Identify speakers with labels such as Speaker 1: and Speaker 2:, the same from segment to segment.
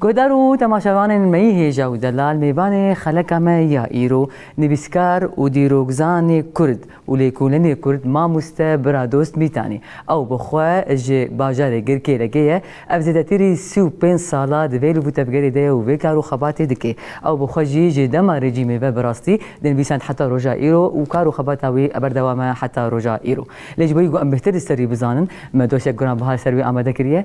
Speaker 1: Guhdar û temaşevanên me yî hêja û delal mêvanê xeleka me ya îro, nivîskar û dîrokzanê Kurd û lêkolînê Kurd mamoste Biradost Mîtanî. Ew bi xwe ji bajarê Girkêlekê ye. Ev zêdetirî sî û pênc sal a di vê liv û tevgerê de ye û vê kar û xebatê dike. Ew bi xwe jî ji dema rejîmê ve bi rastî dinivîsand heta roja îro û kar û xebata wî berdewam e heta roja îro. Lê ji bo wî ku em bêhtir li ser wî bizanin, me dosyek giranbiha li ser wî amade kiriye.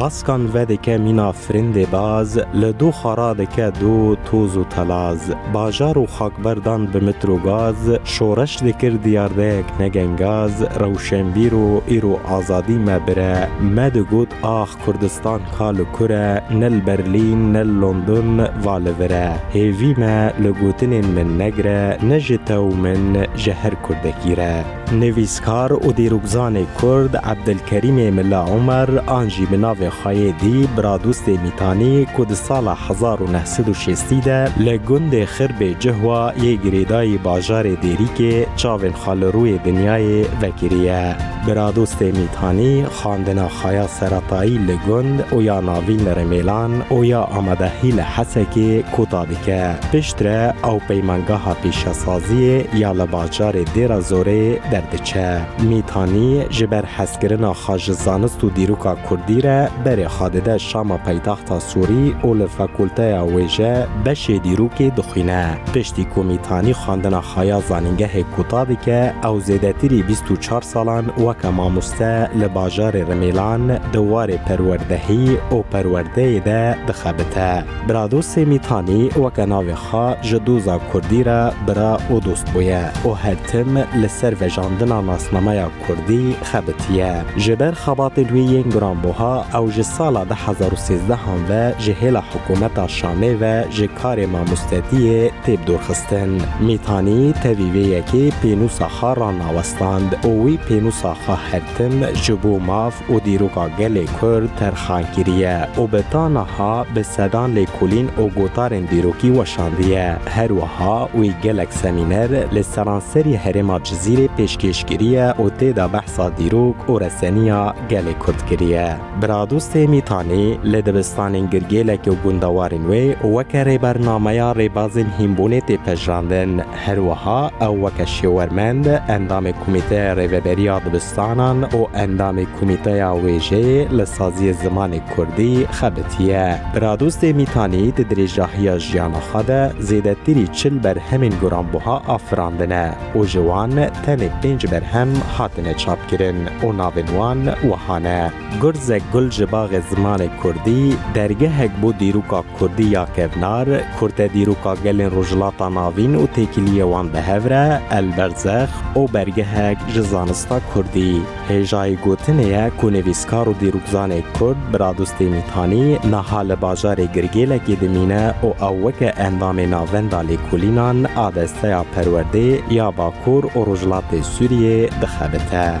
Speaker 1: Baskan vedike mîna firindê baz, li doxa radike do toz û telaz. Bajar û xakberdan bi mitr û gaz, şoreş dikir diyardeyek ne gengaz, rewşenbîr û îro azadî me bire, me digot ax Kurdistan ka li kur e, ne li Berlîn, ne li London va li vir e. Hêvî me li gotinên min negire, ne ji te û min, ji her Kurdekî re. Nivîskar û dîrokzanê Kurd Ebdilkerîmê Milla Omer an jî bi navê xwe yê dî Biradostê Mîtanî ku di sala hezar û neh sed û şêstî de li gundê Xirbê Cihwa yê girêdayî bajarê Dêrîkê çavên xwe li rûyê dinyayê vekiriye. Biradostê Mîtanî, xandina Xaya Seratayî li gund Oya Navîn li Rêmêlan, Oya Amadehî li Hesekê kota dike. Piştre ew peymangeha pîşesaziyê ya li bajarê Dêra Zorê derdiçe. Mîtanî ji ber hezkirina xwe ji zanist û dîroka kurdî re berê xwe dide Şama paytexta Sûrî û li fakulteya wêje beşê dîrokê dixwîne. Piştî ku Mîtanî xandina Haya zanîngehê kota dike ew zêdetirî bîst û çar salan weke mamoste li bajarê Rimêlan di warê perwerdehî û perwerdeyê de dixebite. Biradost Sêmîtanî weke navê xwe ji doza kurdî re bira û dost bûye û her tim li ser vejandina nasnameya Kurdî xebitiye. Ji ber xebatên wê yên giranbuha ew ji sala du hezar û sêzdeh an ve ji hêla hikûmeta Şamê ve ji karê mamostetiyê tê bi dorxistin. Mîtanî tevî vê yekê pênûsa xwe ranawestand û wî pênûsa xwe her tim ji bo maf, û dîroka gelê Kurd terxan kiriye û bi ta niha bi sedan lêkolîn û gotarên dîrokî weşandiye. Her wiha wî gelek semîner li seranserî herêma Cizîrê pêşkêş kiriye û tê de behsa dîrok û reseniya gelê Kurd kiriye. Biradostê Mîtanî li dibistanên Girgêlekê û gundewarên wê weke rêbernameya rêbazên hînbûnê tê pejirandin. Herwiha ew weke şêwermend, endamê Komîteya Rêveberiya Dibistanan û endamê Komîteya Wêjeyê li Saziyê Zimanê Kurdî xebitiye. Biradostê Mîtanî di dirêjdahiya jiyana xwe de zêdetirî çil berhemên guranbuha afirandine û ji wan tenê pênc berhem hatine çapkirin û navên wan wiha ne, Gurzek gul ji baxê zimanê Kurdî, dergehek bo dîroka Kurdî ya kevnar, kurte dîroka gelên Rojhilata Navîn û têkiliyê wan bi hev re, el berzex û bergehek ji zanista kurdî. Hêjayî gotinê ye ku nivîskar û dîrokzanê kurd Biradûs Têmîtanî niha li bajarê Girgêlekê dimîne û ew weke endamê navenda lêkolînan a desteya perwerdê ya Bakur û Rojhilatê Sûriyê dixebite.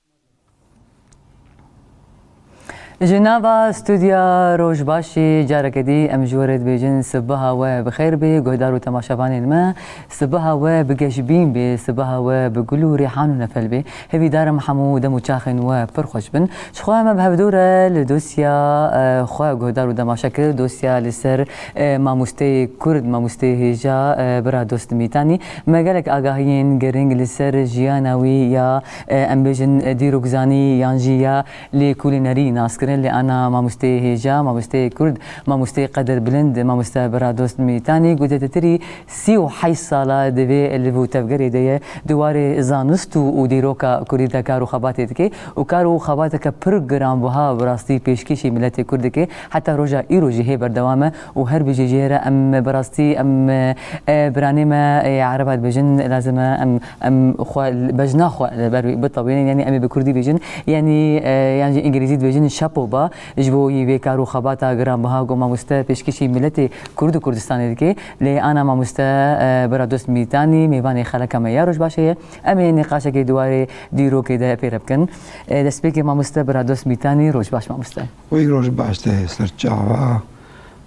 Speaker 1: Ji nava studya Rojbaşê careke dî em ji we re dibêjin sibeha we bi xêr bê guhdar û temaşevanên me. Sibeha we bi geşbîn bê, sibeha we bi gul û rêhan û nefel bê. Hevî darim hemû dem û çaxên we pir xweş bin. Ji xwe me bi hevdû re li dosya xwe guhdar û temaşe kir, dosya li ser mamosteyê Kurd, mamosteyê hêja Bira Dost Mîtanî. Me gelek agahiyên girîng li ser jiyana wî ya Em bêjin dîrokzanî yan jî ya lêkolînerî nas kirin lê ana mamosteyê hêja, mamosteyê kurd, mamosteyê qeder bilind mamoste Biradost Mîtanî ku zêdetirî sî û heşt sal e di vê liv û tevgerê de ye di warê zanist û û dîroka kurdî de kar û xebatê dike û kar û xebateke pir giranbiha bi rastî pêşkêşî miletê kurd dike heta roja îro jî hê berdewam e û her bijî jê re em bi rastî em biranê me ê ereba dibêjin lazim e em Em xwe bejna xwe li ber wî bitewînin yanî em ê bi kurdî bêjin yanî yan jî îngilîzî dibêjin şapo ba ji bo wî vê kar û xebata giranbiha ku mamoste pêşkêşî miletê kurd û Kurdistanê dike. Lê ana mamoste bira dost Mîtanî mêvanê xeleka me ya Rojbaşê ye. Em ê nîqaşekê di warê dîrokê de pêre bikin. Destpêkê mamoste bira dost Mîtanî rojbaş mamoste. Wê roj baş te ser çawa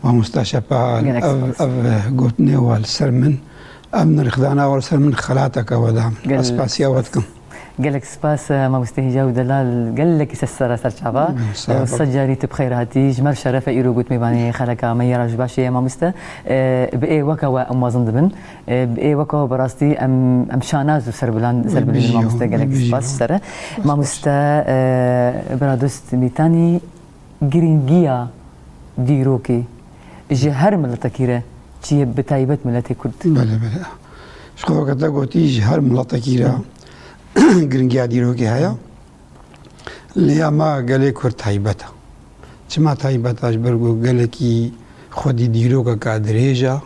Speaker 1: mamosta şepal ev ev gotinê wa li ser min ev nirxdana wa li ser min xelateke we da min. Ez spasiya we dikim. Gelek spas mamoste Hîja û Delal gelekî ser sera ser çawa. Sed carî tu bi xeyr hatî. Ji me re şeref e îro gotinê vanê xeleka me yê roj baş heye mamoste. Bi ê weka we em mezin dibin. Ê weko bi rastî em em şanaz û serbilan serbilîzin mamoste gelek spas ji te re. Mamoste Biradost Mîtanî girîngiya dîrokê ji her miletekî re çi ye bi taybet miletê Kurd? Belê belê. Ji xwe weke te gotî ji her miletekî re girîngiya dîrokê heye. Lê ya me gelê Kurd taybet e. Çima taybet e ji ber ku gelekî xwedî dîrokeke dirêj e.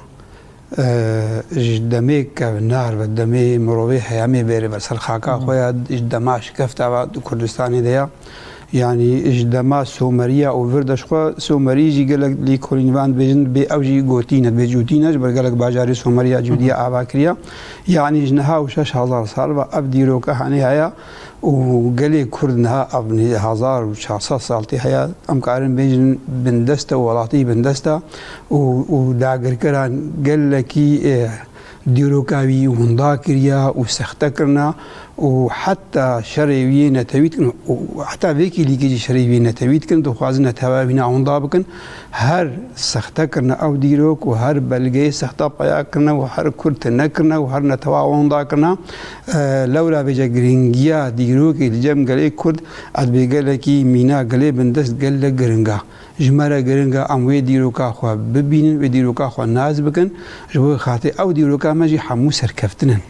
Speaker 1: Ji demê kevnar ve, demê mirovê heyamê bêrê ve ser xaka xwe ya, ji dema şikefta ve di Kurdistanê de ya, yanî ji dema someriya û vir de ji xwe somerî jî gelek lêkolînvan dibêjin bê ew jî gotî ne, bêcûtî ne ji ber gelek bajarê someriya cûdî ya ava kiriya. Yanî ji niha û şeş hezar sal ve ev dîroke henê heye. Û gelê Kurd niha ev hezar û çar sed sal tê heye, em karin bêjin bindest e, welatî bindest e û û dagirkeran gelekî dîroka wî winda kiriye û sexte kirine û heta şerê wî yê netewî dikin û heta vê kêlîkê jî şerê wî yê netewî dikin, dixwazin neteweya wî ne winda bikin. Her sexte kirine ew dîrok û her belgeyê sexte peya kirine û her Kurd tune kirine û her netewa winda kirine. Lewra vêca girîngiya dîrokê li cem gelê Kurd ez bê gelekî mîna gelê bin dest gelek giring a. Ji me re giring a em wê dîroka xwe bibînin, wê dîroka xwe nas bikin. Ji bo xatirê ew dîroka me jî hemû serkeftin in.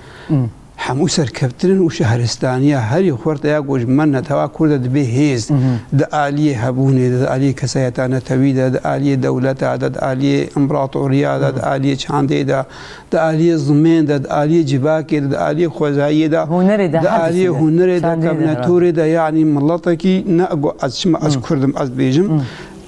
Speaker 1: Hemû serkeftin in û şehristaniya herî xurt ya ku ji me netewa Kurd e dibe hêz di aliyê hebûnê de, di aliyê kesayeta netewî de, di aliyê dewleta de, di aliyê împeratoriya de, di aliyê çandê de, di aliyê zimên de, di aliyê civakê de, di aliyê xwezayiyê de, Hunerê de, di her tiştî aliyê de. hunerê de, Çandiyê de, kevne herhalde. torê de yanî miletekî ne ku ez çima ez kurd im ez bêjim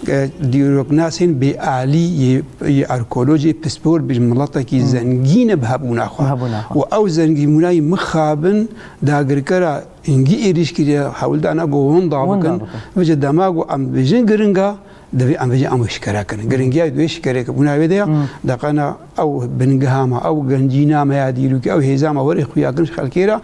Speaker 1: e, dîroknasên bêalî yê yê arkeolojê pispor bêjim miletekî zengîn e bi hebûna xwe. Bi hebûna xwe. Û ew zengînbûna yî mixabin dagirkera hingî êrîş kiriye hewl da ne ku winda Winda bikin. bikin. Vije dema ku em dibêjin giring e, Divê em vêjî em wê şikere kirin. Giringiya wê şikerê ki bûna wê de ya deqena ew bingeha me, ew gencîna me ya dîrokî, ew hêza me werê xuya kirin xelkê ra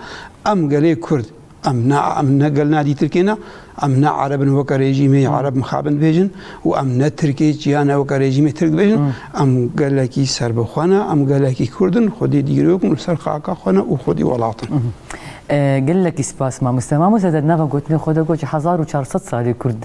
Speaker 1: em gelê Kurd em ne em ne gel ne dîtirkê ne em ne Ereb in weke rejîmê Ereb mixabin dibêjin û em ne Tirkê çiya ne weke rejîmê Tirk dibêjin em gelekî serbixwe ne em gelekî Kurd in xwedî dîrok in li ser xaka xwe ne û xwedî welat in. Gelekî spas mamoste. Mamoste te di nava gotinê xwe de got ji hezar û çar sed salî Kurd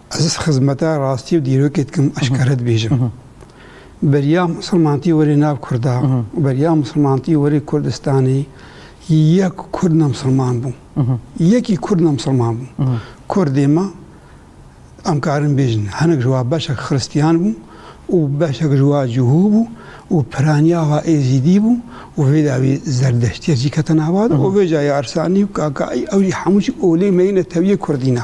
Speaker 1: Ez xizmeta rastî û dîrokê dikim eşkere dibêjim. Beriya misilmantî werê nav kurda û beriya misilmantî werê Kurdistanê yek kurd ne misilman bû. Yekî kurd ne misilman bû. Kurdê me em karin bêjin hinek ji wa beşek xiristîyan bû û beşek ji wa cihû bû û piraniya wa êzîdî bû û vê dawî zerdeştîya jî kete nava de û vê cayê arsanî û kakaî ew jî hemû jî olê meyî netewîyê kurdî ne.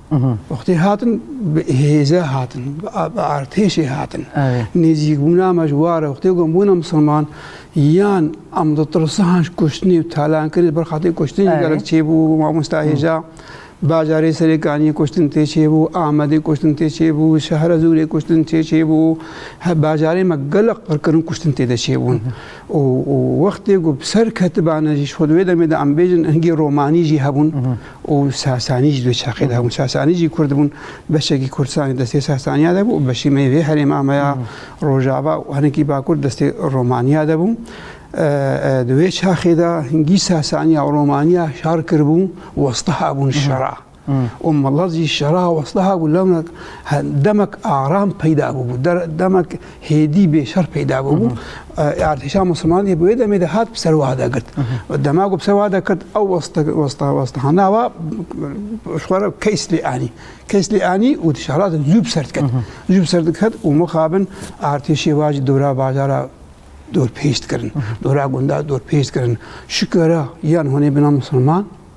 Speaker 1: Wextê hatin bi hêze hatin, bi artêşê hatin. Nêzîkbûna me ji war e wextê ku em bûne misilman yan em di tirsihan ji kuştinê û talankirî li ber xatirê kuştinê gelek çêbû mamosta hêja. Bajarê Serêkaniyê kuştin tê çêbû, Amedê kuştin tê çêbû, Şehrezûrê kuştin tê çêbû. Bajarê me gelek qirkirin kuştin tê de çêbûn. û wextê ku bi ser ketibane jî ji xwe di wê demê de em bêjin hingî romanî jî hebûn. û Sasanî jî di çeqê de hebûn. Sasanî jî Kurd bûn. Beşekî Kurdistanê destê Sasaniya de bû û beşî me vê herêma me ya Rojava û hinekî Bakur destê Romaniya de bû. Di wê çaxê de hingî Sasaniya û Romaniya şar kiribû westa hebûn şera. û milet jî şera westa hebû lewnek demek aram peyda bûbû. Demek hêdî bê şer peyda bûbû. Artêşa Musliman yê bi wê demê de hat bi ser wiha de girt. Dema ku bi ser wiha de girt ew westahana wa xwara keys lê anî. Keys lê anî û di şehra de zû bi ser diket. Zû bi ser diket û mixabin artêşê wa jî dora bajara dor pêş dikirin. Dora gunda dor pêş dikirin. Şikera yan hûnê bina Musliman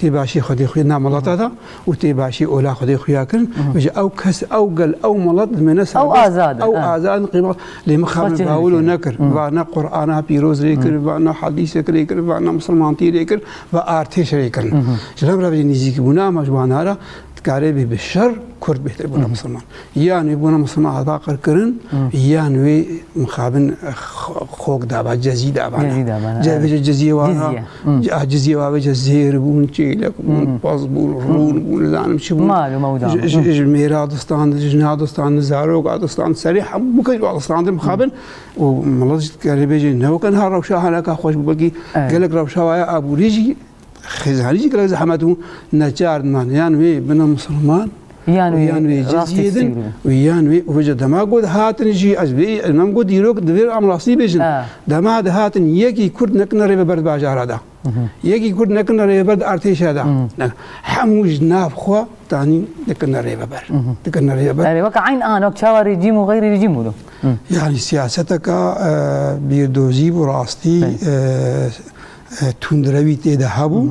Speaker 1: Tê başî Xwedê xwe na welata da û tê başî ola Xwedê xwe ya kirin û ji ew kes, ew gel, ew welat li me ne serbest, ew azad in, ew azad in qîma lê min xwe bawil û nekir. Va ne Qur'ana pîroz rê kir, va ne hadîsek rê kir, va ne misilmantî rê kir, va artêş rê kirin. Ji nav revê nîzîkî bûna ma ji wan ara dikarê bê bi şer Kurd bêtir bûna misilman. Yan wî bûna Muslima Aba qirkirin, yan wî mixabin xok daba, cezî daba. Cezî daba. Cezî cezî wa. Ah cezî wa ve cezîr bûn, çêlek bûn, paz bûn, rûn bûn, zanim çi bûn. Mal û mewda. Ji mêra distan, ji na distan, zarok adistan, serî hemû kej wa distan de mixabin û milet ji kerê bêjê ne wek ha rewşa halaka xweş bû belkî gelek rewşa waya abûrî jî Xêz herî jî gelek zehmet bû neçar man yan wê bina musulman yan wê yan wê cizîyê din wê yan wê û vêca dema got hatin jî ez vê nam got dîrok divê am rastî bêjin dema di hatin yekî kurd nekina rêveber di bajara da yekî kurd nekina rêveber di artêşa da hemû ji nav xwe tanî dikina rêveber dikina rêveber erê weka eyn an wek çawa rejîm û xeyrî rejîm bû yanî siyaseteka bîrdozî bû rastî Tundrewî tê de hebû.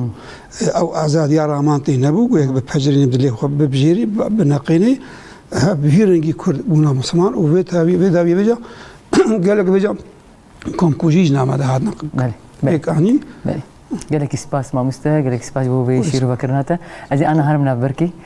Speaker 1: Ew azadiya raman tê nebû. Goya bi pecirînê bi dilê xwe bibijêrî, bineqînî. Bi vî rengî Kurd bûna Musliman û vê tevî vê dawî vêca gelek vêca komkujî ji name de hatin. Belê. Pêk anîn. Belê. Gelekî spas mamoste, gelekî spas bo vê şîrovekirina te. Ez ê ana herim nav birkî.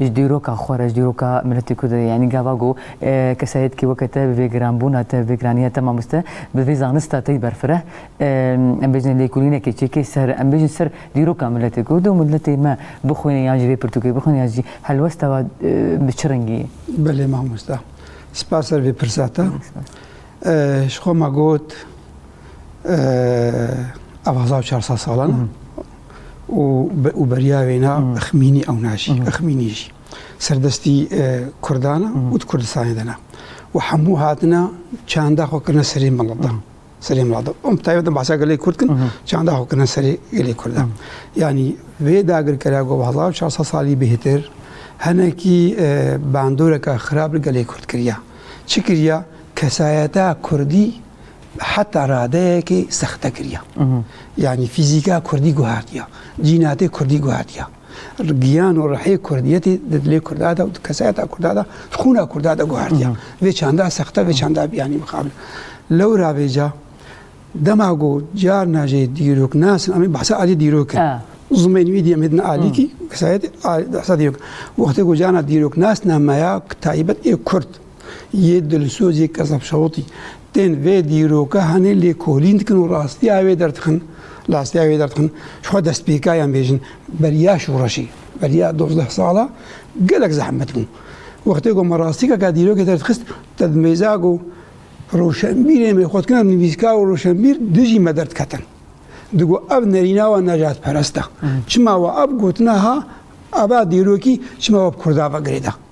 Speaker 1: Ji dîroka xwe re, ji dîroka miletê Kurd re yanî gava ku kesayetîkê weke te bi vê giranbûna te, bi vê giranîya te mamoste, bi vê zanista te yî berfireh, em bêjin lêkolînekê çêkê ser, em bêjin ser dîroka miletê Kurd û miletê me bixwîne yan ji vê pirtûkê bixwîne yan jî helwesta we bi çi rengî ye? Belê mamoste. Spas ser vê pirsa te. Ji xwe ma got. ev hezar û çar sed salan e û û beriya wê ne exmînî ew ne jî exmînî jî serdestî Kurdan e û di Kurdistanê de ne û hemû hatine çanda xwe kirine serê milata serê milata em bi taybet behsa gelê Kurd kin çanda xwe kirine serê gelê Kurd e yanî vê dagirkera ku bi hezar û çar sed salî bêhtir henekî bandoreke xirab li gelê Kurd kiriye çi kiriye kesayeta Kurdî Heta radeyekê sexte kiriya. Yanî fîzîka Kurdî guhertiya, cînatê Kurdî guhertiya. Giyan û rihê Kurdiyetê di dilê Kurda de û di kesayeta Kurda de, di xûna Kurda de guhertiya. Vê çanda sexte, vê çanda biyanî mixabin. Lewra vêca dema ku carna jê dîrok nasin, em ê behsa aliyê dîrok in. Zimên wî diyê em hêdin alîkî, kesayetê behsa dîrok. Wextê ku carna dîrok nasina me ya taybet ê Kurd. Yê dilsoz yê Kezab Şawitî tên vê dîroka hanê lêkolîn dikin û rastiya wê derdixin. Rastiya wê derdixin ji xwe destpêka yan bêjin beriya şoreşê, beriya dozdeh sala gelek zehmet bû. Wextê ku me rastîkeke dîrokê derdixist te di mêza ku roşenbîrê me xwe dikina nivîskar û roşenbîr dijî me derdiketin. Digo ev nerîna wa nejatperest e. Çima wa ev gotina ha eva dîrokî çima wa bi Kurda ve girêda.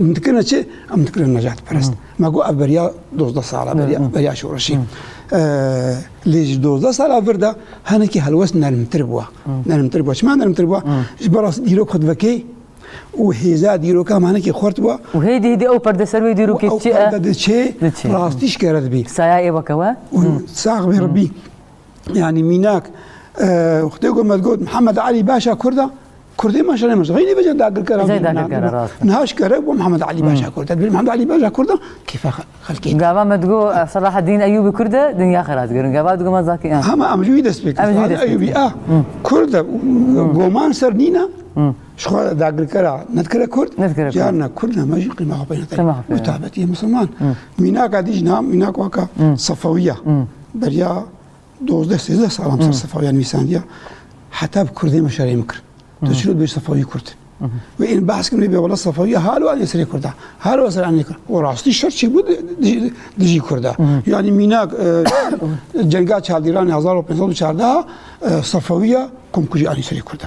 Speaker 1: Em dikirine çi? Em dikirine necatperest. Me got ev beriya dozdeh sala beriya beriya şoreşî. Lê ji dozdeh sala vir de hinekî helwest nermtir bûye. Nermtir bûye. Çima nermtir bûye? Ji ber rastî dîrok xwe divekê û hêza dîroka em hinekî xurt bûye. Û hêdî hêdî ew perde ser wê dîrokê çi ye? Diçe rastî ji kere dibî. Saya ê weke we? Sax bê Rebî. yani mînak xutê got me got Mihemed Alî başa Kurda Kurdê me şerê me xeynî vece dagirkera niha ji kerek bû Mihemed Alî başa Kurda dibî Mihemed Alî başa Kurda kêfa xelkê Gava me digo Selahedîn Eyûbî Kurd e dinya xera digirin gava digo me zakî hema em ji wî dest pê kirin Eyûbî a Kurd e goman ser nîna ji xwe dagirkera nedikire Kurd carna Kurd e me jî qîma xwe pê nedaye mutabetiyê Musulman mînaka dî jina mînak waka Sefawiya Beriya dozdeh sêzdeh salan ser sefawîya nivîsandiya heta bi kurdê me şerê min kir. Tu çi bê sefawî kurd. Wê ên behs kirin bê wela sefawîya halo anê serê kurda. Halo ser anê kir. O rastî şer çê bû dijî kurda. Yanî mînak cenga çavdîranê hezar û pênc sed û çardeh sefawîya komkujî anî serê kurda.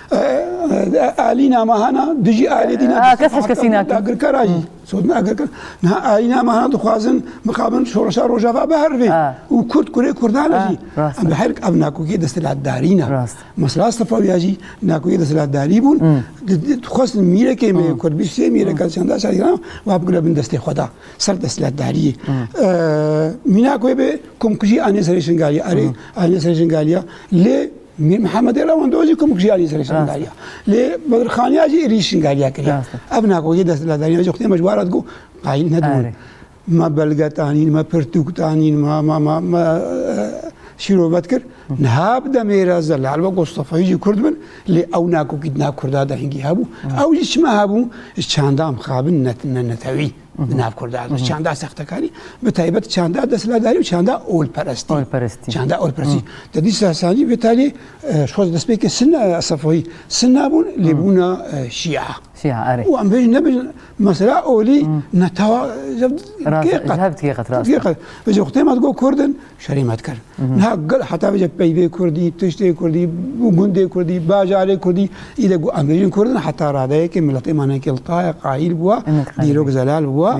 Speaker 1: Alîna Mahana dijî ailê dîna agirkara jî sotina agirkar niha Alîna Mahana dixwazin mixabin şoreşa rojava bihervê û kurd kurê kurdan jî em bi her ev nakokê desthilatdarî ne mesela Sefawiya jî nakokê desthilatdarî bûn dixwestin mîrekê me kurd bî sê mîreka çanda şaran wa bigire bin destê xwe da ser desthilatdariyê mîna ku bê komkujî anê serê şingalî erê anê serê şingalîya lê Mîr Mihemedê re wan dozî komik jiyanê serê şermdariya. Lê Bedirxaniya jî êrî şingaliya kiriya. Ev nagogê desthilatdariya jî xutê me ji war hat ku qayîl nedibûn. Me belge tanîn, me pirtûk tanîn, me şîrove dikir. Niha bi demê re zelal wek Mustefayî jî Kurd bin lê ew nagogî di nav Kurda de hingî hebû. Ew jî çima hebû? Ji çanda mixabin ne netewî. di nav Kurda de çanda sextekarî bi taybet çanda desthilatdarî û çanda olperestî olperestî çanda olperestî te dîsa sancî vê talê şoz destpêkê sinna sefoyî sinna bûn lê bûna şîa şîa erê û em bêjin nebin mesela olî netawa hevdikê qet hevdikê qet rast vê xutê me digo kurdin Şerî me dikir. Niha gel heta vê jê peyvê Kurdî, tiştê Kurdî, gundê Kurdî, bajarê Kurdî, î de got em bêjin Kurdin heta radeyekê miletê me nekê li tayê qayîl bûwa, dîrok zelal bûwa,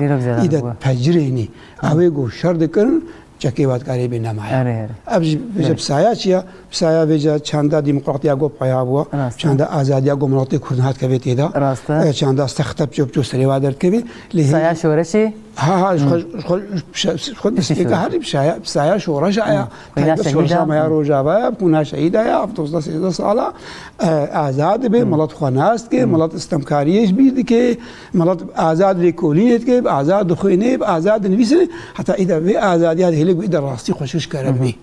Speaker 1: î de pecirênî ewê ku şer dikirin çekê vatkarê bê nemaye. Ev ji bi saya çi ye? Pisaya vê ca çanda demokratiya got paya bû, çanda azadiya got miletê Kurd hat kevê têda. Rast e. Çanda stexte piço piço serê wa derdikevê. Pisaya şoreşê? Ha ha ji xwe ji xwe destpêka herî pisaya pisaya şoreş aya. Qîna şehîda me ya rojava ya qîna şehîda ya hevdozda sêzda sala azad dibê milet xwe nas dike milet istemkariyê ji bîr dike milet azad lêkolînê dike azad dixwînê azad dinivîsê heta îda vê azadiya hêlik bî de rastî xweşiş kere bî.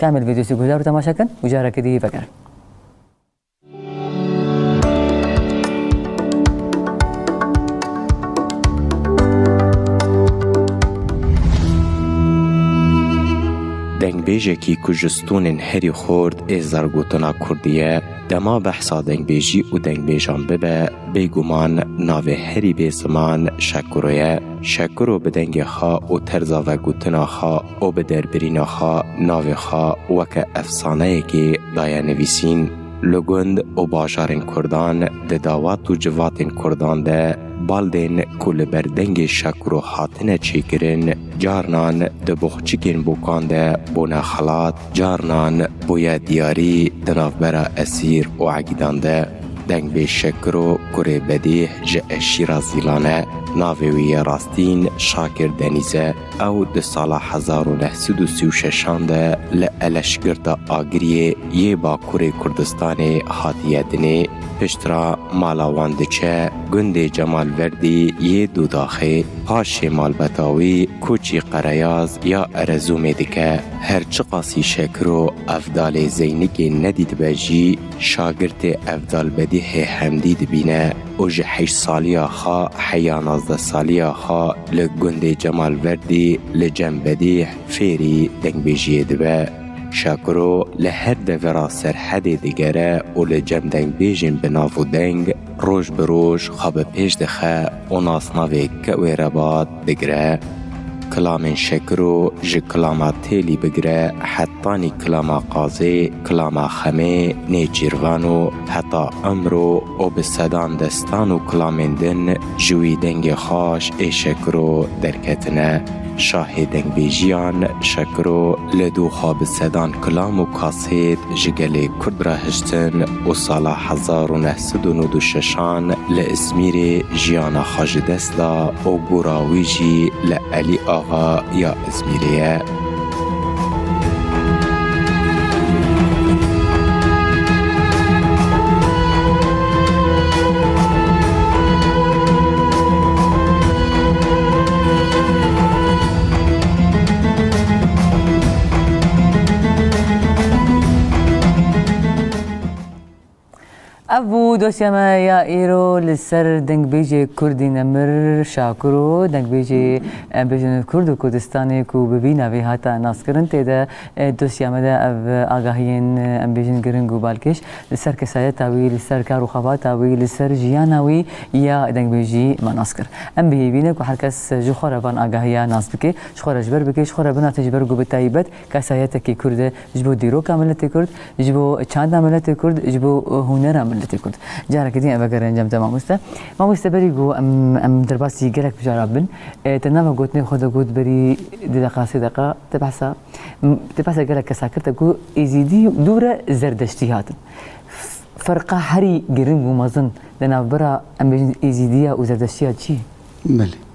Speaker 1: Kamil vîdyoyê guhdar û temaşe kin û carekê dî vegerin. Dengbêjekî ku ji stûnên herî xort ê zargotina kurdî ye, dema behsa dengbêjî û dengbêjan bibe, bêguman navê herî bê ziman Şekuro ye. Şekuro bi dengê xwe û terza vegotina xwe, û bi derbirîna xwe navê xwe weke efsaneyekê daye nivîsîn, li gund û bajarên Kurdan, di dawat û civatên Kurdan de baldên ku li ber dengê Şakuro hatine çêkirin carnan di boxçikên bokan de bûne xelat, carnan bûye diyarî di navbera esîr û egîdan de. Dengbê Şakuro kurê bedîh ji eşîra Zîlan e, navê wî yê rastîn Şakir Denîz e. Ew di sala hezar û neh sed û sî û şeşan de li Eleşgirta Agiriyê yê Bakurê Kurdistanê hatiye dinê, piştra mala wan diçe gundê Cemal Verdî yê Dûdaxê, paşê malbata wî koçî Qereyaz ya Erezûmê dike. Her çiqasî Şekiro Evdalê Zeynikê nedîtibe jî, şagirtê Evdal Bedîhê Hemdî dibîne. û ji heşt saliya xwe heya nazdeh saliya xwe li gundê Cemal Verdî li Cem Bedîh fêrî dengbêjiyê dibe. Şakiro li her devera Serhedê digere û li cem dengbêjên bi nav û deng roj bi roj xwe bi pêş dixe û nasnavê Kewê Rebat Bigire, Kilamên Şekiro ji kilama Têlî bigire hetanî kilama Qazê, kilama Xemê, Nêçîrvan û heta Imro û bi sedan destan û kilamên din ji wî dengê xaş ê Şekiro derketine. Şahê dengbêjiyan Şekiro li dû xwe bi sedan kilam û Sêd ji gelê Kurd re hiştin û sala hezar û neh sed û nod û şeşan li Îzmîrê jiyana xwe ji dest da û gora wî jî li Elî Axa ya Îzmîrê ye. Ev bû dosya me ya îro li ser dengbêjê Kurdî Nemir Şakir û dengbêjê bêjin Kurd û Kurdistanê ku bi vî navê hata naskirin tê de dosya me de ev agahiyên em bêjin giring û balkêş li ser kesayeta wî li ser kar û xebata wî li ser jiyana wî ya dengbêjî me nas kir. Em bihêvîne ku her kes ji xwe re van agahiya nas bike. Ji xwe re ji ber bike, ji xwe re binase ji ber ku bi taybet kesayetekî Kurd e, ji bo dîroka miletê Kurd, ji bo çanda miletê Kurd, ji bo hunera miletê Kurd. Careke din vegere encam te mamoste. Mamoste berî ku em em derbasî gelek mijara bin, te nava gotinên xwe de got berî du deqa sê deqa te behsa te behsa gelek kesa kir te got Êzîdî dû re Zerdeştî hatin. Ferqa herî giring û mezin di navbera em bêjin Êzîdî ya û Zerdeştî ya çi ye? Belê.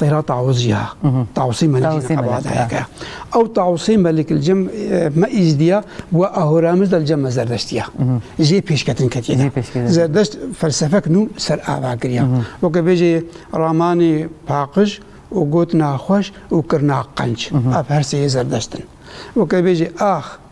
Speaker 1: Têra Taûzî ya Taûsî Melik Ebadayek e. Ew Taûsî Melik li cem me Îzidiya we Ahûramiz de li cem me Zerdeştî ya. Jê pêşketin ketiye de. Zerdeşt felsefek nû ser ava kiriya. Weke bêjê ramanê paqij û gotina xweş û kirina qenc. Ev her sê yê Zerdeşt in. Weke bêjê ax.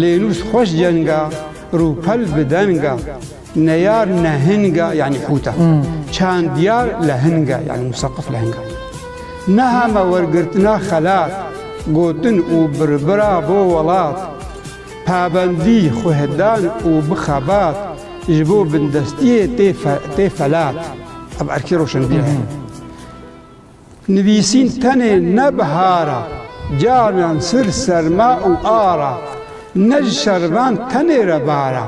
Speaker 1: Lênûs xweş cenga, rûpel bi denga, neyar nehinga yanî hûta, çandiyar lehinga yanî musaqif lehinga. Niha me wergirtina xelat, gotin û birbira bo welat, pabendî xwedan û bi xebat, ji bo bindestiyê tê felat. Ev erkê roşenbîr e. Nivîsîn tenê ne bihar a, caviyan sir serma û ar a, ne ji şervan tenê re bar a,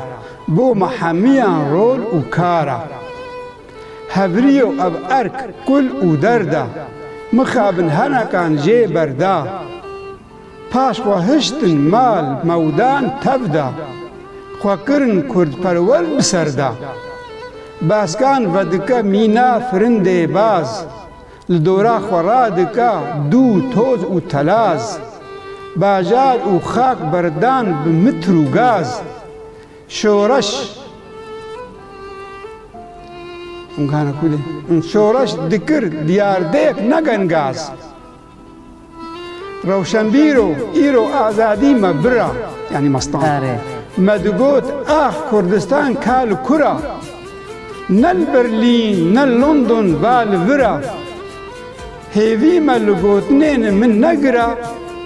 Speaker 1: bo me hemiyan rol û kar a. Hevrî yo ev erk, kul û derd a, mixabin henekan jê berda, Paş xwe hiştin mal mewdan tev da, xwe kirin kurdperwer bi ser da. Baskan vedike mîna firindê baz, li dora xwe radike dû toz û telaz. Bajar û xak berdan bi mitr û gaz. Şoreş Şoreş dikir diyardêk ne gen gaz. Rewşenbîr o, îro azadî me bira, yanî Mestan, me digot ax Kurdistan ka li kur a? Ne li Berlîn, ne li London va li vir a. Hêvî me li gotinên min ne gira,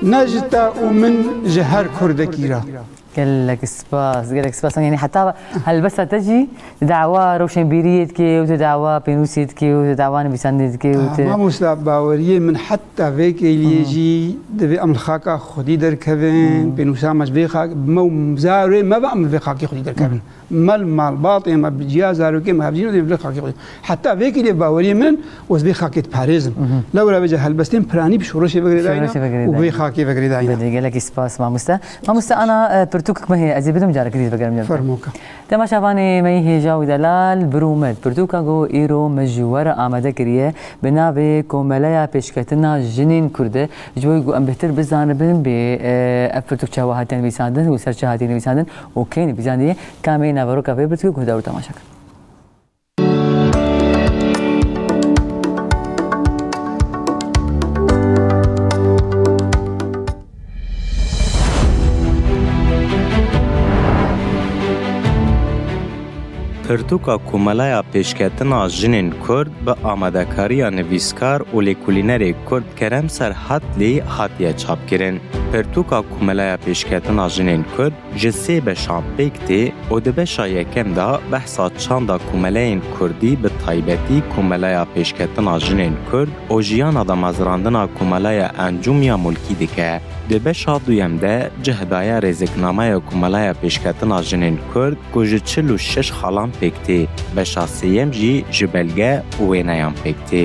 Speaker 1: ne ji te û min ji her Kurdekî ra. Gelek spas, gelek spas. Yani heta helbesta te jî di dawa rewşenbîriyê dike û di dawa pênûsê dike û di dawa nivîsandinê dike û te. Mamosta baweriyê min heta vê kêliyê jî divê em li xaka xwedî derkevin, pênûsa me ji vê xakê, me û zarokê me be em li vê xakê xwedî derkevin. Mel malbatê me bi ciya zarokê me hevjîn dê vê xakê xwe. Heta vê kîlê baweriyê min ez vê xakê diparêzim. Lewra vêca helbestên piranî bi şoreşê ve girêdayîne û vê xakê ve girêdayîne. Bedî gelekî spas mamoste. Mamoste ana pirtûkek me heye ez ê bidim careke dît vegerim. Fermo ka. Dema şavanê me yî hêja û delal bir û med pirtûka ku îro min ji we re amade kiriye bi navê Komeleya Pêşketina Jinên Kurd e ji bo ku em bêhtir bizanibin bê ev pirtûk çawa hatiye nivîsandin û ser çi hatiye nivîsandin û kê nivîsandiye kamê naveroka vê pirtûkê guhdar û temaşe kir. Pirtûka Komelaya Pêşketina Jinên Kurd bi amadekariya nivîskar û lêkolînerê Kurd Kerem Serhatlî hatiye çapkirin. Pirtûka Komeleya Pêşketina Jinên Kurd ji sê beşan pêk tê û di beşa yekem de behsa çanda komeleyên kurdî bi taybetî Komeleya Pêşketina Jinên Kurd û jiyana damezrandina Komeleya Encûm ya Mulkî dike. Di beşa duyem de cih daye rêziknameya Komeleya Pêşketina Jinên Kurd, ku ji çil û şeş xalan pêk tê, beşa sêyem jî ji belge û wêneyan pêk tê.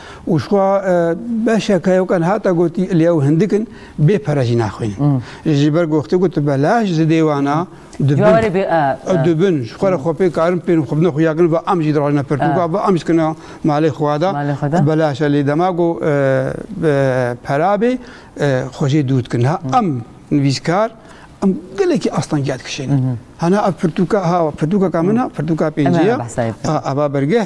Speaker 1: Û şwa beşek heye kan hata gotî lê ew hindik in bê pere jî naxwînin. Ji ber goxtê ku tu belaş ji dê wan a dibin ji xwe re xwe pê karin pênû xwe bina xwe ya kirin va em jî dirojna pirtûka va em jî kina malê xwe da belaş e lê dema ku pera bê xwe jê dûr dikin. Niha em nivîskar em gelekî astangiya dikişînin. Hana ev pirtûka ha pirtûka ka min a pirtûka pêncî ya ava bergeh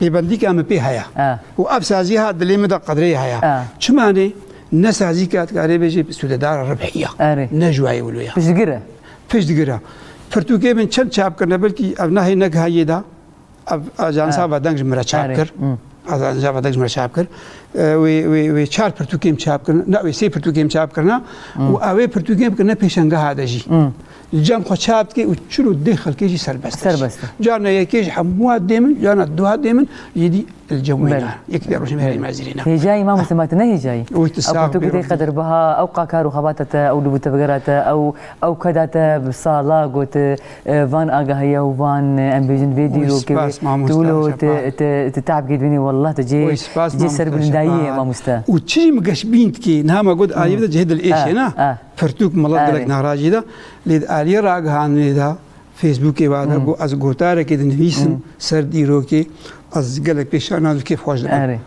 Speaker 1: Pêbendîka min pê heye û ev sazî ha dilê min de qedrê heye. Çima ne? Ne sazîka dikarê bêjî sûdedara ribhî ya, ne ji wayê wilo ya. Piştgir e. Piştgir e. Pirtûkê min çend çap kirine belkî ev nahê ne giha yê de ev ajansa vedeng ji min re çap kir. Ajansa vedeng ji min re çap kir. Wê çar pirtûkê min çap kirin, ne wê sê pirtûkê min çap kirine û ew ê pirtûkê min kirine pêşangeha de jî. Li cem xwe çap dike û çil û deh xelkê jî serbest e. Serbest e. Carna yekê jî hemûa dê min, carna duha dê min jî dî li cem wê ne. Yekî dê rojê me herî mezirê ne. Hêjayî mam Husê ma tu ne hêjayî. Wê tu sağ bî. Tu gotê qedirbiha, ew qakar û xebata te, ew li bo tevgera te, ew ew ke da te bi sala got van agahiya û van em bêjin vê dîrokê wê. Tu wilo tu te'b kê dibînî wallah tu cê cê serbilindayî yê mamoste. Û çi jî min geş bînd kî niha me got aliyê bide cihê dilêşê ne. Pirtûk mala gelek narazî da. Lê di aliyê ragihandinê de Facebookê ve de got ez gotarekê dinivîsim ser dîrokê ez gelek pê şerm nadim kêf xweş dikim.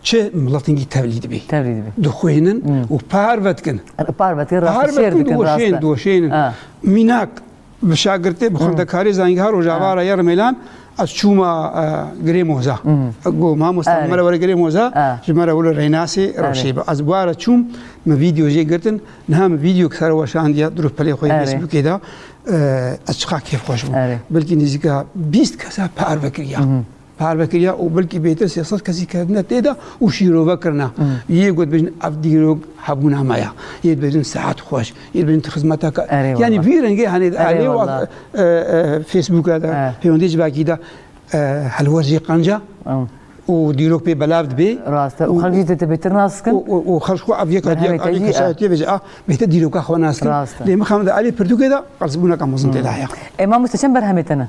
Speaker 1: Çi miletin gî tevlî dibî. Tevlî dibî. Dixwînin û parve dikin. Parve dikin rastî şêr dikin. Doşên doşên mînak Bi şagirtê bi xwendekarê zangehar Rojava re ya Rimelan ez çûma girê moza. Go mamosta min re were girê moza ji me re wile reynasê rewşê bi. Ez ware çûm min vîdeo jê girtin niha min vîdeo ki sere weşandiye di rûpelê xwe yê Facebookê de ez çiqa kêfxweş bûm. Belkî nêzîka bîst kesa parve kiriya. Parve kiriye û belkî bêtir sê sed kesî ketine tê de û şîrove kirine. Yê got bêjin ev dîrok hebûna me ye. Yê dibêjin sehet xweş, yê dibêjin tu xizmeteke yanî vî rengê henê elê û Facebooka de pêwendî ji vekî de helwest jê qenca û dîrok pê belav dibê. Rast e û xelk jî dê te bêtir nas bikin. Û xelk xwe ev yek hatiye alî kesayetiye bêje a bêtir dîroka xwe nas bikin. Lê mixabin de elê pirtûkê de qelsbûneke mezin tê de heye. Ê mamoste çend berhemê te ne?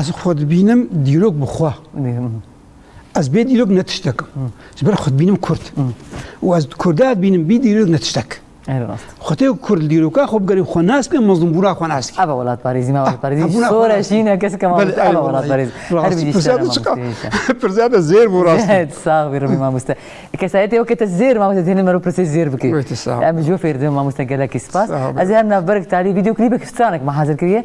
Speaker 1: Ez xwe dibînim dîrok bi xwe. Ez bê dîrok ne tiştek. Ji ber xwe dibînim Kurd. û ez Kurda dibînim bî dîrok ne tiştek. Xwetê Kurd dîroka xwe bigerî xwe nas bê mezlûmbûna xwe nas. Eva welatparêzî me welatparêzî sora şîne kes kema eva welatparêzî. Pirsiyate zêr bû rast. Sağ bî ribî mamoste. Kesayetê weke te zêr mamoste tenê me ro pirsê zêr bikê. Em ji we fêr dibin mamoste gelekî spas. Ez ê her navberek talî vîdyoklîbek stranek me hazir kiriye.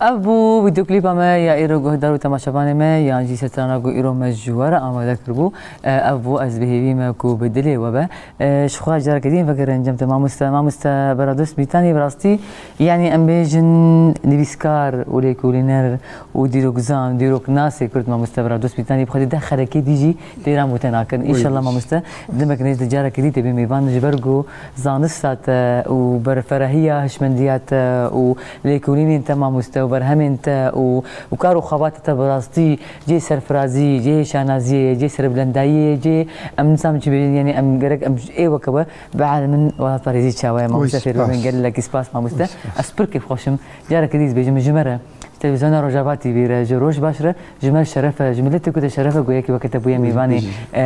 Speaker 1: Ev bû vîdeoklîpa me ya îro guhdar û temaşevanê me yan jî setrana ku îro me ji we re amade kiribû. Ev bû ez bihêvî me ku bi dilê we be. Ji xwe re careke din vekirin cem te mamoste mamoste beradost Mîtanî bi rastî yanî em bêjin nivîskar û lêkolîner û dîrokzan û dîroknasê Kurd mamoste beradost Mîtanî bi xwe dê deh xerekê dî jî Têran bû te nakin. Înşallah mamoste demek nêz di carekê dî tê bê mêvan ji ber ku zanista te û ber ferahiya hişmendiya te û lêkolînên te mamoste û berhemên te û û kar û xebatê te bi rastî cihê serfirazî ye, cihê şanaziyê ye, cihê serbilendayiyê ye, cihê em nizanm çi bêjin yanî em gerek em ê weke be bielin min welatparêzî çawa ye mamoste fêrbe bin gelekî spas mamoste ez pir kêfxweş im carekê dî dibêjim ji me re. Ji Televîzyona Rojava TV re, ji Roj baş re ji me şeref e, ji miletê ku te şeref e ku yekî weke te bûye mêvanê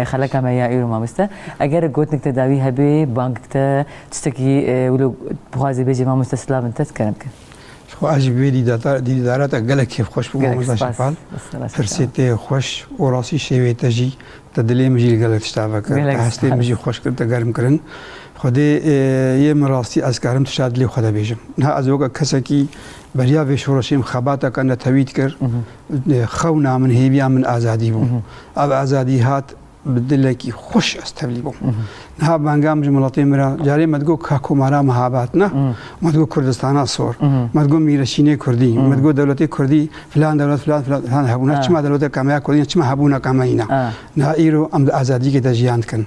Speaker 1: xeleka me ya îro mamoste. Eger gotinek te dawî hebe, bangik te, tiştekî wilo dixwazî bêjî mamoste silav min te dikerim ke. Ji xwe ez ji vê dîdara te gelek kêfxweş bûm mamoste Şefal. Pirsê te xweş û rastî şêwê te jî di dilê min jî li gelek tişta vekir. Te hestê min jî xweş kir, te germ kirin. Xwedê yê min rastî ez karim tişta dilê xwe de bêjim. Niha ez weke kesekî Beriya vê şoreşê min xebateke netewî dikir. Xewna min, hêviya min azadî bû. Ev azadî hat bi dilekî xweş ez tevlî bûm. Niha banga min ji miletê min re carê me digot ka komara me habat ne. Me digot Kurdistana sor. Me digot mîreşînê Kurdî. Me digot dewletê Kurdî filan dewlet filan filan filan hebûna. Çima dewleteke me ya Kurdî ne, çima hebûneke me yîna. Niha îro em di azadiyekê de jiyan dikin.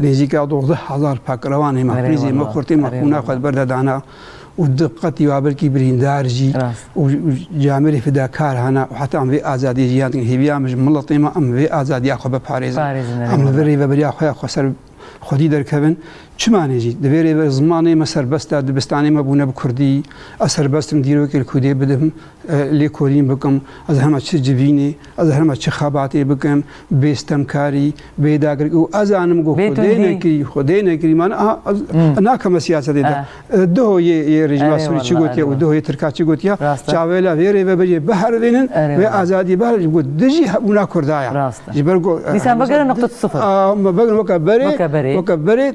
Speaker 1: Nêzîka dozdeh hezar pakrevan ê me xwîzê me xurt ê me xwîna xwe di ber de dana û di qetî wa belkî birîndar jî û camêrî fidakar hene û heta em vê azadiyê jiyan dikin. Hêviya min ji miletê me em vê azadiya xwe biparêzin. Em li vir rêveberiya xwe ya xwe ser xwedî derkevin. Çima ne jî? Divê rêve zimanê me serbest e, dibistanê me bûne bi kurdî. Ez serbest im dîrokê li kurdiyê bidim. Lêkolîn bikim, ez herma çi civînê, ez herma çi xebatê bikim, bê stemkarî, bê dagirkî û ez anim ku xwedê nekirî, xwedê nekirî man a ez nakeme siyasetê de. Duho yê yê rejîma Sûrî çi gotiye û duho yê Tirka çi gotiye, çavê la vê rêvebiriyê biherivînin, vê azadiyê biherivînin ku di jî hebûna Kurda ye. Ji ber ku. Dîsan vegere nuqta sifir. A me vegere weke berê, weke berê.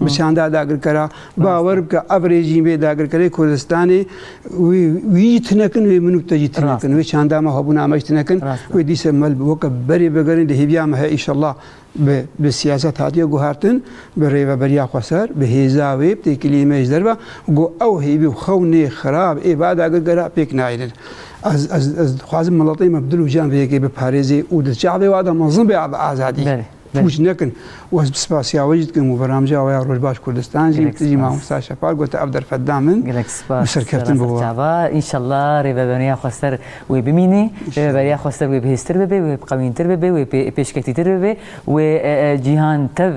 Speaker 1: bi çanda dagirkera bawer bike ev rejîm vê dagirkerê Kurdistanê wê wî jî tinekin wê min û te jî tinekin wê çanda me hebûna me jî tinekin wê dîse mel weke berê bigerin di hêviya me heye îşallah bi bi siyaset hatiye guhertin bi rêveberiya xwe ser bi hêza wê bi têkiliyê me ji derve got ew hêvî û xewnê xirab ê va dagirkera pêk nayêrin ez ez ez dixwazim miletê me bi dil û can vê yekê biparêzê û di çavê wa de mezin be bi azadî. پوچ nekin û ez bi spasiya we jî dikim û beramjê awaya Rojbaş Kurdistan jî min tu jî Mamosta Şefaq gote ev derfet da min û serkeftin bi we. Înşallah rêveberiya xwe ser wê bimînî, rêveberiya xwe ser wê bihêztir bibe, wê biqewîntir bibe, wê pêşketîtir bibe, wê cîhan tev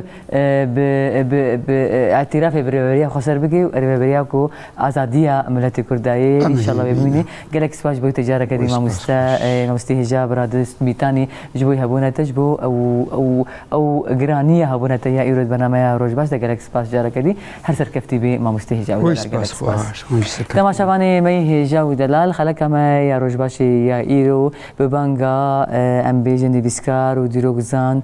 Speaker 1: bi bi îtîrafê bi rêveberiya xwe ser bike û rêveberiya ku azadiya miletê Kurd dayê, înşallah wê bimînî. Gelek spas ji bo wî te careke dî mamoste Mabistî Hijab Radist Mîtanî ji bo hebûna te ji bo ew ew ew giraniya hebûna te ya îro di bernameya Roj baş de gelek spas careke dî her serkeftî bî Mamostê Hijab û Delal gelek spas. Temaşa vanê me yî Hijab û Delal xeleka me ya Rojbaşê ya îro bi banga em bêjin nivîskar û dîrokzan